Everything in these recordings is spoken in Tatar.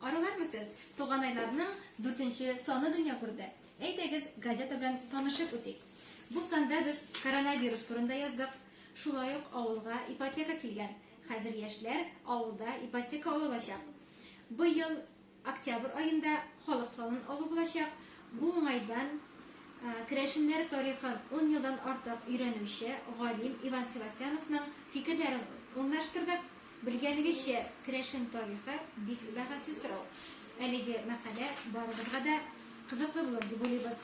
Аралармы сез? Туганайларның дүртенче саны дөнья күрде. Әйдәгез, газета белән танышып үтик. Бу санда без коронавирус турында яздык. Шулай ук авылга ипотека килгән. Хәзер яшьләр авылда ипотека ала алачак. Быел октябрь аенда халык санын алу булачак. Бу уңайдан керәшеннәр тарихын ун елдан артык өйрәнүче галим Иван Севастьяновның фикерләрен урнаштырдык. Белгәнегезчә, керәшен тарихы бик бәхәсле сорау. Әлеге мәкалә барыбызга да кызыклы булыр дип уйлыйбыз.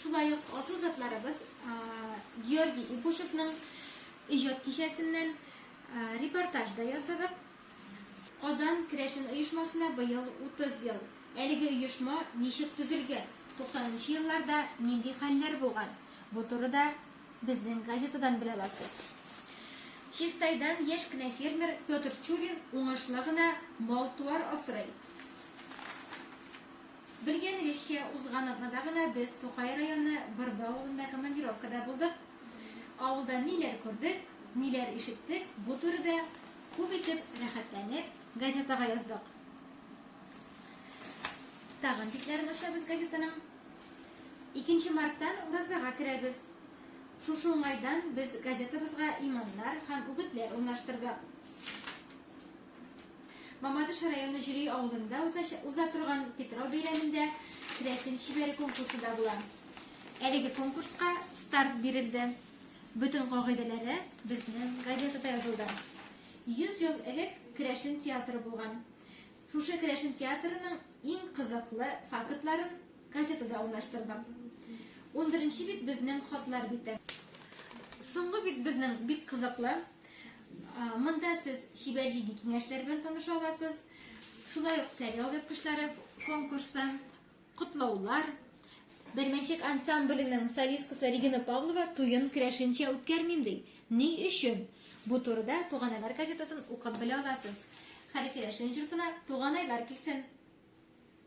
Шулай ук асыл затларыбыз Георгий Ипушевның иҗат кичәсеннән репортаж да ясадык. Казан керәшен оешмасына быел 30 ел. Әлеге оешма ничек төзелгән, 90 нчы елларда нинди хәлләр булган, бу турыда Безнең газетадан белә аласыз. Чистайдан яшь кенә фермер Петр Чурин уңышлы гына мал-туар асрый. Белгәнегезчә, узган атнада гына без Тукай районы Бырды авылында командировкада булдык. Авылда ниләр күрдек, ниләр ишеттек, бу турыда күп итеп рәхәтләнеп газетага яздык. Тагын битләрен ачабыз газетаның. Икенче марттан уразага керәбез. Шушы уңайдан без газетабызга иманнар һәм үгетләр урнаштырдык. Мамадыш районы Җөри авылында уза торган Питрау бәйрәмендә керәшен чибәре конкурсы да була. Әлеге конкурска старт бирелде. Бөтен кагыйдәләре безнең газетада язылды. 100 ел элек керәшен театры булган. Шушы керәшен театрының иң кызыклы фактларын газетада урнаштырдым. Унберенче бит безнең хатлар бите. Соңгы бит безнең бик кызыклы. Монда сез чибәр җиде киңәшләр белән таныша аласыз. Шулай ук Тәрьял япкычлары конкурсы. Котлаулар! Бермәнчек ансамбленең солисткасы Регина Павлова туен керәшенчә үткәрмим ди. Ни өчен? Бу турыда Туганайлар газетасын укып белә аласыз. Хәле керәшен җортына туганайлар килсен!